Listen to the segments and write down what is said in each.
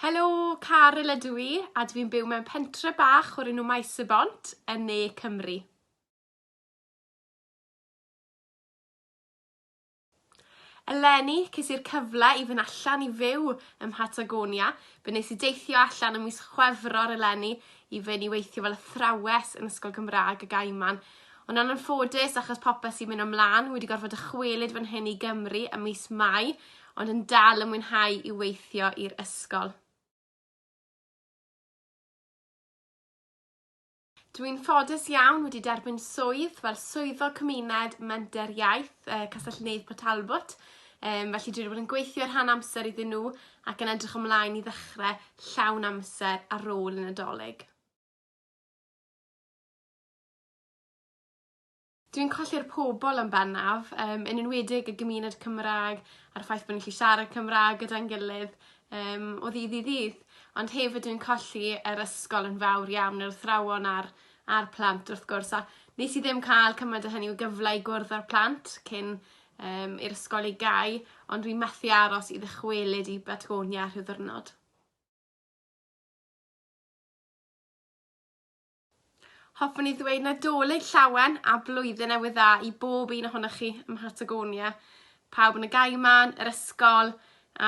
Helo, Caryl ydw i, a dw i'n byw mewn pentre bach o'r enw Maes y Bont yn ne Cymru. Eleni, ces i'r cyfle i fynd allan i fyw ym Mhatagonia. Fe nes i deithio allan ym mis Chwefror eleni i fynd i weithio fel athrawes yn Ysgol Gymraeg y Gaiman. Ond yn anffodus, achos popeth sy'n mynd ymlan, wedi gorfod dychwelyd fan hyn i Gymru ym mis Mai, ond yn dal yn mwynhau i weithio i'r ysgol. Dwi'n ffodus iawn wedi derbyn swydd fel swyddog cymuned menter iaith uh, Castell-nedd Port Talbot, um, felly dwi wedi bod yn gweithio rhan amser iddyn nhw ac yn edrych ymlaen i ddechrau llawn amser ar ôl y Nadolig. Dwi'n colli'r pobol yn bennaf yym yn enwedig y gymuned Cymra'g a'r ffaith bo' ni'n gallu siarad Cymra'g gyda'n gilydd yym o ddydd i ddydd. Ond hefyd dwi'n colli yr ysgol yn fawr iawn yr athrawon a'r a'r plant wrth gwrs a nes i ddim ca'l cymaint o hynny o gyfle i gwrdd â'r plant cyn yym i'r ysgol ei gau ond dwi methu aros i ddychwelyd i Batgonia rhyw ddiwrnod. Hoffwn i ddweud Nadolig llawen a blwyddyn newydd dda i bob un ohonoch chi ym Mhatagonia. Pawb yn y gaiman, yr ysgol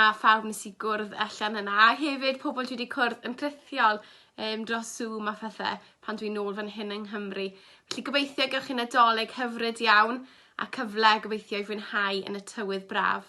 a phawb nes i gwrdd allan yna. A hefyd pobl dwi wedi cwrdd yn rhithiol um, dros Zoom a phethau pan dwi'n nôl fan hyn yng Nghymru. Felly gobeithio gewch chi Nadolig hyfryd iawn a cyfle gobeithio i fwynhau yn y tywydd braf.